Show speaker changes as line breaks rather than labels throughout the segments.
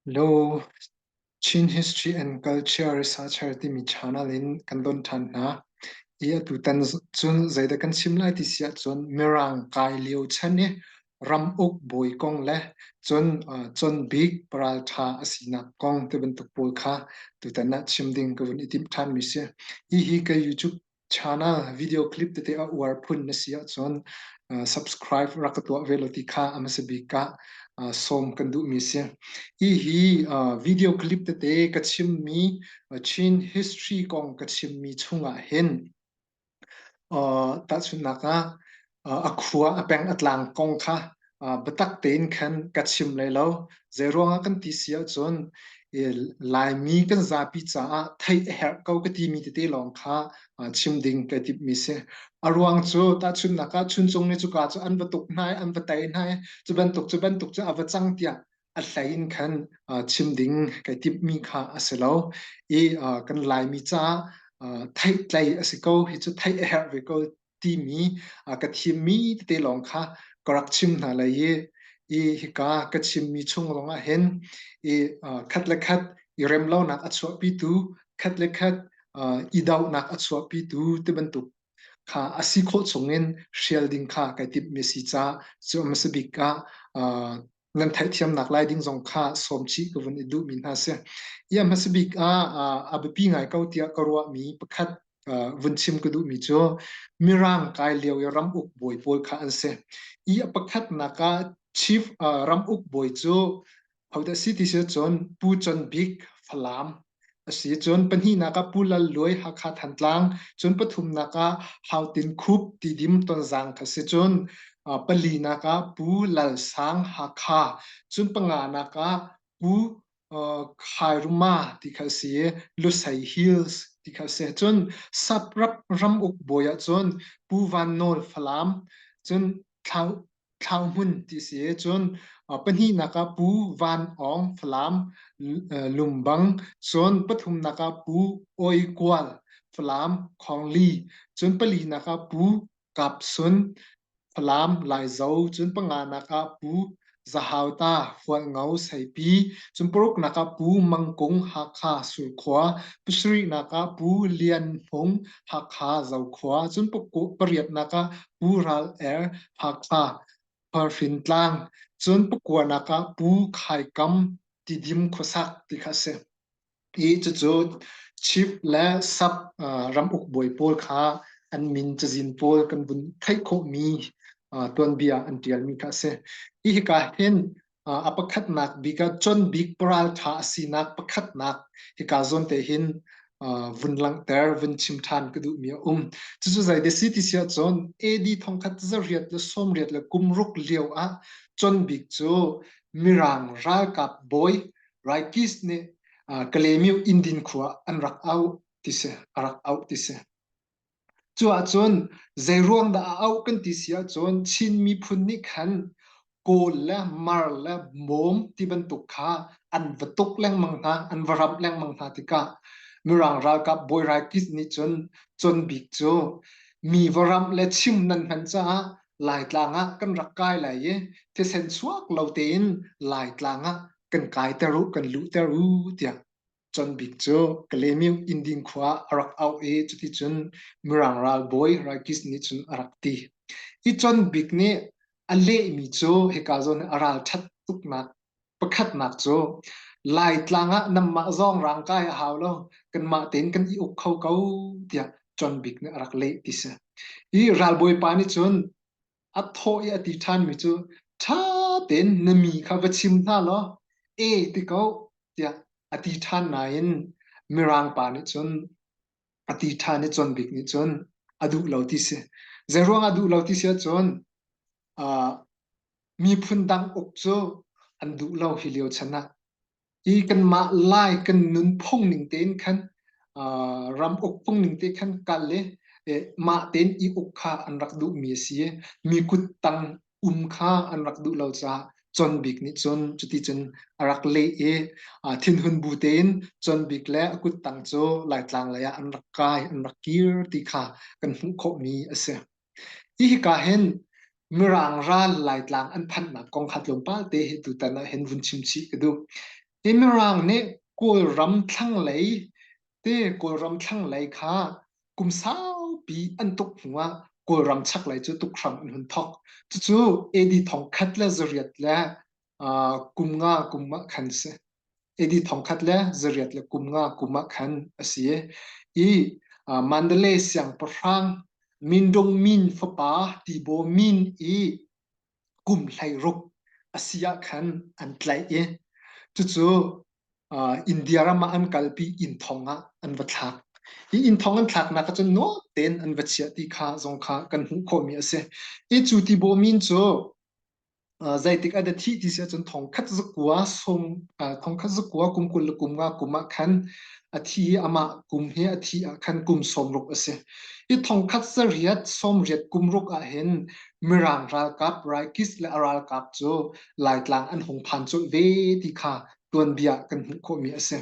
Law Chin History and Culture Researcher timi channel in kan don ṭhan hna i atutan cun zeidah kan chim lai ti si ahcun Mirang kai lio chan i ramuk bawi kong le cun cunbik paraltha a sinak kong ti bantuk pawl kha tutan ah chim ding ka vun i timh ṭhan mi si. Hihi ka YouTube channel video clip tete a uar phun na si ahcun subscribe rak ka tuah ve lo ti kha ama se bik ka sawm kan duh mi si. Hihi video clip tete ka chim mi Chin history kong ka chim mi chungah hin Tahchunhnak ah, a khua a peng a tlang kong kha biatak tein khan ka chim lai lo. Zeiruangah kan ti si ahcun, Laimi kan zapi caah theih a herh ko ka timi tete lawng kha chim ding ka timhmi si. A ruang cu tahchunhnak ah, Chuncung nih cuka cu an va tuk hna i, an va tei hna i, cu bantuk cu a va cang tiah a hleiin khan chim ding kai timhmi kha a si lo i kan laimi caah theih tlei a si ko hi cu theih a herh ve ko timi ka thimmi tete lawng kha ka rak chim hna lai i i hika ka chimmi chung lawngah hin i khat le khat i remlonak a chuahpitu khat le khat i dohnak a chuahpitu ti bantuk kha a si khawh chungin hrial ding kha kai timhmi si ca cu a bik ah nan theihthiamnak lai ding zong kha sawm chih ka vun i duhmi hna si. Ia hmasabik ah a biapi ngai ko tiah ka ruahmi pakhat vun chim ka duhmi cu mirang kai lio i ramuk bawi pawl kha an si. Ia pakhatnak ah chief ramuk bawi cu hodah si ti si cun Pu Chan Bik Falam asi cun pahnihnak ah Pu Lal Luai Hakha Thantlang cun pathumnak ah Hautin Khup tidim tonzang kha si cun palinak ah Pu Lal Sang Hakha cun panganak ah Pu Khairuma ti kha si Lusei Hills ti kha si cun sap rap ram uk bawi ah cun Pu Van Nawl Falam cun thlang thlang hmun ti si cun pahnihnak ah pu van awng falam lumbang cun pathumnak ah pu oi kual falam khongli cun palinak ah pu kapsun falam laizo cun panganak ah pu zahauta hualngo saipi cun paruknak ah pu mangkung hakha sulkhua pasarihnak ah pu lian hmung hakha zokhua cun pariatnak ah pu ral er Hakha, Parhfintlang, cun pakuanak ah Pu Khai Kam tidim khuasak ti kha a si. I cucu chief le sub ramuk bawi pawl kha an min cazin pawl kan vun theih khawhmi tuanbia an tialmi kha a si. Hi hika hin a pakhatnak bik ah John Bik paral ṭha a sinak pakhatnak hika zawn te hin vun langhter vun chim ṭhan ka duhmi a um cucu zei de si ti si ahcun AD thongkhat zariat le sawmriat le kumruk lio ah John Bik cu Mirang ralkap bawi Raikis nih Kalemiu Indin khua an rak au ti si a rak auh ti si Cu ahcun zeiruang dah a auh kan ti si ahcun Chin miphun nih khan kawl le mar le mawm ti bantuk kha an va tuk lengmang hna, an va ramh lengmang hna tikah Mirang ralkap bawi Raikist nih cun Con Bik cu mi va ramh le chim nan hman caah Laitlang ah kan rak kai lai i thisen suak lo tein Laitlang ah kan kaiter u, kan luhter u tiah Con Bik cu Kalemyuk Inding khua a rak auh i cuticun Mirang ralbawi Rakis nih cun a rak ti. Hi Con Bik nih a lehmi cu hika zawn i a ralṭhat tuknak pakhatnak cu Laitlang ah nanmah zong rangkai a hau lo, kanmah tein kan i uk kho ko tiah Con Bik nih a rak leh ti si. Hi ralbawi pa nih cun a thaw i a ti ṭhanmi cu ṭha tein na mi kha va chim hna law e ti ko tiah a ti ṭhan nain mirang pa nih cun a ti ṭhan i Con Bik nih cun a duh lo ti si. Zeiruang a duh lo ti si ahcun miphun dang uk cu an duh lo hi lio chan ah i kanmah lai kan nunphung ning tein khan ram ukphung ning te khan kal le mah tein i uk kha an rak duhmi a si i mi kut tang um kha an rak duh lo caah Con Bik nih cun cuti cun a rak leh i thinhun bu tein Con Bik le a kut tang cu Laitlang lei ah an rak kai an rak kir ti kha kan hmuh khawhmi a si. Hi hika hin Mirang ral Laitlang an phanhnak kong kha tlawmpal te hi tutan ah hin vun chim chih ka duh. Hi Mirang nih Kawlram thlanglei te Kawlram thlanglei kha kum saupi an tuk hnu ah Kawlram chaklei cu tuk hram an hun thawk. Cucu AD thong khat le zariat le kum nga kum ah khan si edi thongkhat le zariat le kum nga kum ah khan a si i mandale siangpahrang mindung min fapa tibo min i kum hlei ruk a si ah khan an tlaih i cucu india ram ah an kalpi inn thong ah an va thlak hi inn thong an thlaknak ah cun nuam tein an va chiah ti kha zong kha kan hmuh khawhmi a si i cu tibo min cu zeitik an thi ti si ahcun thongkhat zakua som thongkhat zakua kum kul le kum nga kum ah khan a thi hi amah kum he a thi ah khan kum sawmruk a si hi thongkhat sariat sawmriat kumruk ah hin mirang ralkap raikis le a ralkap cu laitlang an hung phan culh ve ti kha tuanbia kan hmuh khawhmi a si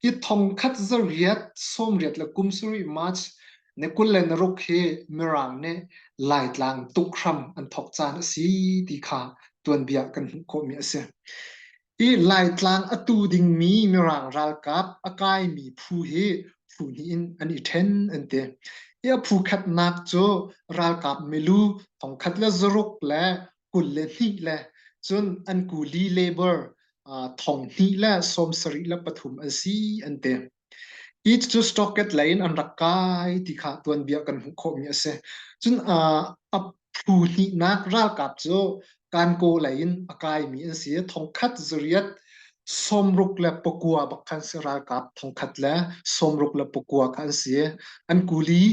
hi thongkhat za riat sawmriat le kum sarih march ne kul le naruk hi mirang ne laitlang tukhram an thok caan a si ti kha tuanbia kan hmuh khawhmi a si hi laitlang a tu dingmi mirang ralkap a kaimi phu hi phu hnih in an i ṭhen an ti hi a phu khatnak cu ralkap milu thongkhat le zaruk le kul le hnih le cun an kuli labor thong hnih le sawm sarih le pathum an si an ti hi cu stocket lei in an rak kai ti kha tuanbia kan hmuh khawhmi a si cun a phu hnihnak ralkap cu kanko lei in a kaimi an si thong khat zuriat sawmruk le pakua bak khan si ralkap thangkhat le sawmruk le pakua kha an si an kuli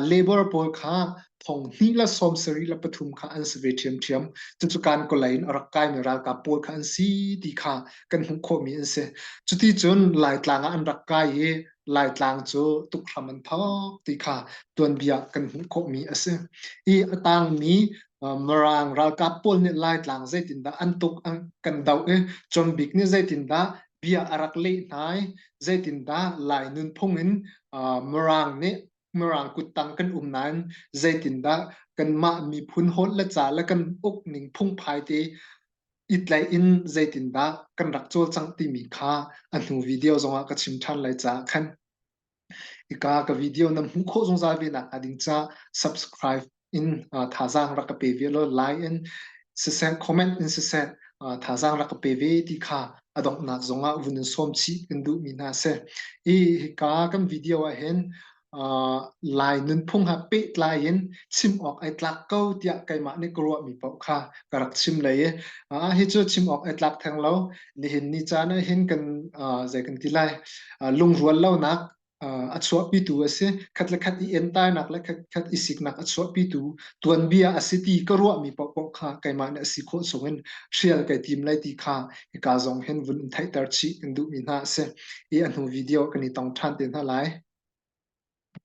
labor pawl kha thong hnih la sawm sari la pathum kha an si ve ṭhiamṭhiam cucu kan kolai in a rak kai mi ralkap pawl kha an si ti kha kan hmuh khawh mi an si cuti cun laitlang ah an rak kai i laitlang cu tukhram an phak ti kha tuanbia kan hmuh khawh mi a si i a tang mi Mirang ralkap pawl nih Laitlang zeitindah an tuk kan doh i Combik nih zeitindah bia a rak leh hna i zeitindah Lai nunphung in Mirang nih Mirang kuttang kan um nain zeitindah kanmah miphun hot le ca le kan uk ning phungphai te i tlaih in zeitindah kan rak cawlcangh timi kha a hnu video zongah ka chim ṭhan lai caah khan. Hika ka video na hmuh khawh zungzal ve nakhnga ding ca subscribe in uh, thazaang rak ka pe ve lo like in siseh comment in siseh uh, thazaang rak ka pe ve ti kha adongnak zongah vun in som chih in duh mi hna se i hika kan video ah hin uh, lai nunphung ha pe tlai in chim awk ai tlak ko tiah keimah nih ka ruah mi paoh kha ka rak chim lei uh, hi cu chim awk ai tlak theng lo nihin ni caan ah hin kan zei kan ti lai lungrual lonak a chuahpitu a si khat le khat i entainak le khat khat i siknak a chuahpitu tuanbia a si ti ka ruahmi paohpaoh kha keimah nih a si khawh chung in hrial kai tim lai ti kha hika zong hin vun theihter chih kan duhmi hna a si i a hnu video kan i tong ṭhan te hna lai